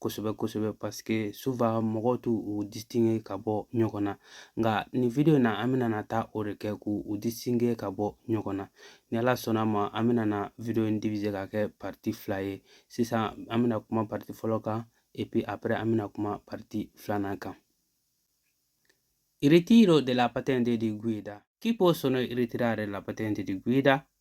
kosɛbɛ kosɛbɛ parce que souvent mɔgɔw t'u u distinge ka bɔ ɲɔgɔn na nka nin video in na an bɛna na taa o de kɛ k'u u distinge ka bɔ ɲɔgɔn na ni ala sɔnna ma an bɛna na video in divize ka kɛ parti fila ye sisan an bɛna kuma parti fɔlɔ kan et puis après an bɛna kuma parti filanan kan ritiro della patente di guida chi possono ritirare la patente di guida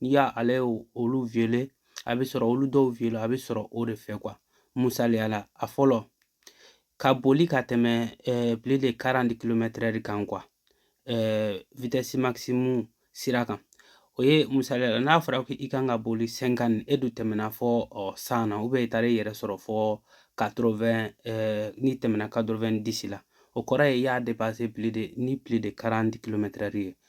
n'i y'a ale olu violer a bɛ sɔrɔ olu dɔw violer a bɛ sɔrɔ o de fɛ quoi misaliya la a fɔlɔ ka boli ka tɛmɛ ɛɛ plus de quarante kilomètres heure kan quoi ɛɛ vitesse maximum sira kan o ye misaliya la n'a fɔra ko i kan ka boli cinquante e dun tɛmɛna fɔ ɔ cent na ou bien i taara i yɛrɛ sɔrɔ fɔ quatre-vingts ɛɛ n'i tɛmɛna quatre-vingt-dix la o kɔrɔ ye i y'a dépasser plus de ni plus de quarante kilomètres heure ye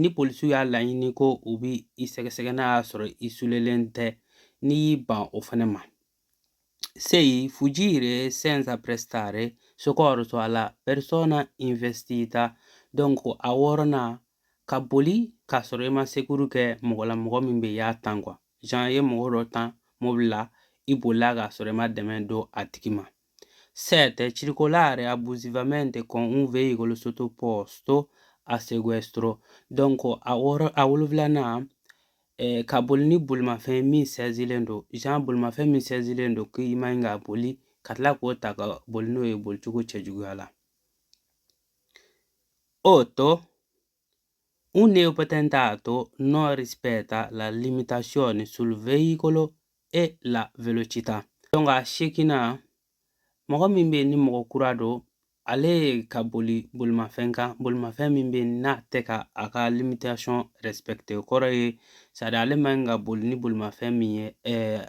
ni polisiw y'a laɲini ko u bɛ i sɛgɛsɛgɛ n'a y'a sɔrɔ i sulelen tɛ n'i y'i ban o fana ma sei fuggire senza prestare soccorso alla persona investita donc a wɔɔrɔnan ka boli k'a sɔrɔ i ma sekuru kɛ mɔgɔ la mɔgɔ min bɛ y'a tan quoi genre i ye mɔgɔ dɔ tan mobili la i bolila k'a sɔrɔ i ma dɛmɛ don a tigi ma 7. Circolare abusivamente con un veicolo sottoposto a sequestro. Donc, a wɔɔrɔ a wolonwulanan eh, ka boli ni bolimafɛn min sɛzilen don genre bolimafɛn min sɛzilen don k'i man ɲi ka boli ka tila k'o ta ka boli n'o ye bolicogo cɛjuguya la. 8. Un neopatentato non rispetta la limitazione sul veicolo e la velocità. Donc a seginnan mɔgɔ min bɛ yen ni mɔgɔ kura don ale ye ka boli bolimafɛn kan bolimafɛn min bɛ yen n'a tɛ ka a ka limitation respecter o kɔrɔ ye c'est-à-dire ale man ɲi ka boli ni bolimafɛn min ye ɛɛ